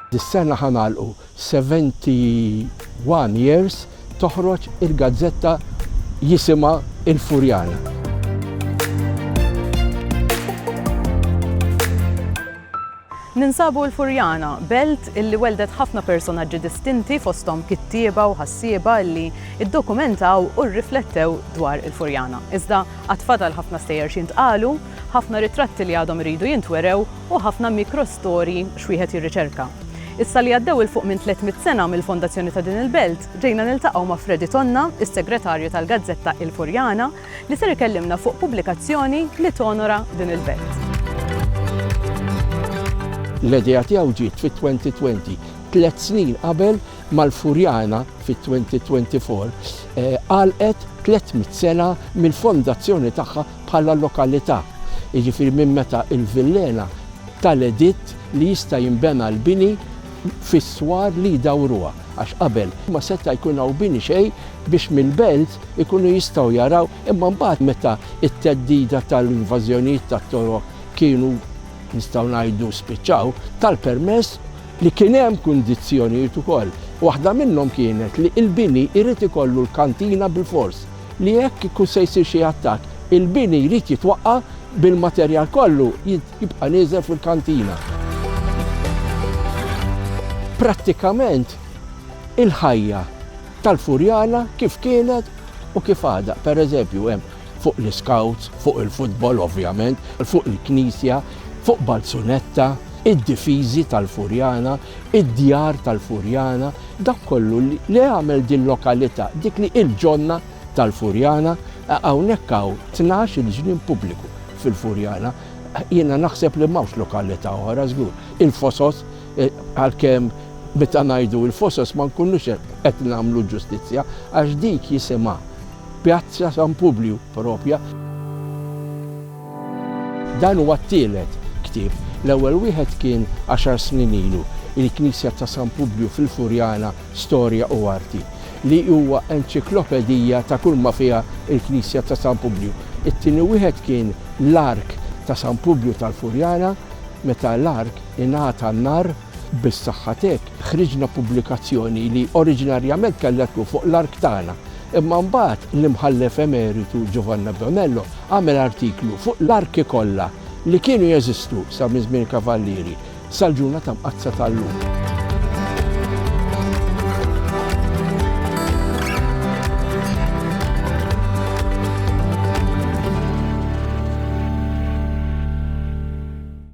Dis-sena ħa nagħlqu 71 years toħroġ il-gazzetta jisimha Il-Furjana. Ninsabu l-Furjana, belt illi welldet ħafna personaġġi distinti fosthom kittieba u ħassieba illi ddokumentaw u rriflettew dwar il-Furjana. Iżda għad fadal ħafna stejjer x'jintqalu, ħafna ritratti li għadhom iridu jintwerew u ħafna mikrostorji x'wieħed jirriċerka. Issa li għaddew 'il fuq minn 300 sena mill-fondazzjoni ta' din il-belt, ġejna niltaqgħu ma' Fredi Tonna, is-Segretarju tal-gazzetta Il-Furjana, li ser ikellimna fuq pubblikazzjoni li tonora din il-belt. L-idea tiegħu ġiet fit-2020, tliet snin qabel ma l-Furjana fit-2024 għalqet 300 sena mill-fondazzjoni tagħha bħala lokalità, jiġifieri minn meta l-villena tal-editt li jista' jinbena l-bini fis-swar li jdawruha, għax qabel ma seta' jkun hawn bini xejn biex mill-belt ikunu jistgħu jaraw, imma mbagħad meta t-theddida tal-invażjonijiet tat-Torok kienu, nistgħu ngħidu, spiċċaw, ta l-permess li kien hemm kundizzjonijiet ukoll. Waħda minnhom kienet li l-bini jrid ikollu l-kantina bilfors. li jekk ikun se jsir xi attakk, il-bini jrid jitwaqqa' bil-materjal kollu jibqa' nieżel fuq il-kantina. Prattikament il-ħajja tal-Furjana kif kienet u kif għadha, pereżempju hemm fuq l-iscouts, fuq il-futbol ovvjament, fuq il-knisja, fuq Balzunetta, id-difiżi tal-Furjana, id-djar tal-Furjana, dak kollu li għamel dil-lokalità, dik li il-ġonna tal-Furjana, hawnhekk hawn tnax il-ġnien pubbliku fil-Furjana, jiena naħseb li m'hawnx lokalità oħra żgur. Il-Fosos, għalkemm meta ngħidu il-Fosos ma nkunux qed nagħmlu ġustizzja għax dik jisimha Pjazza San Publiu propja. Dan huwa t-tielet ktieb. L-ewwel wieħed kien għaxar snin ilu, Il-Knisja ta' San Publju fil-Furjana, Storja u Arti, li huwa enċiklopedija ta' kull ma fiha l-Knisja ta' San Publju. It-tieni wieħed kien L-Ark ta' San Publju tal-Furjana, meta l-Ark ingħata n-nar. Bis-saħħa t'hekk, ħriġna pubblikazzjoni li oriġinarjament kellha tkun fuq l-ark tagħna, imma mbagħad l-Imħallef Emeritu Giovanni Abbianello għamel artiklu fuq l-arki kollha li kienu jeżistu sa minn żmien il-Kavallieri sal-ġurnata mqaddsa ta' llum.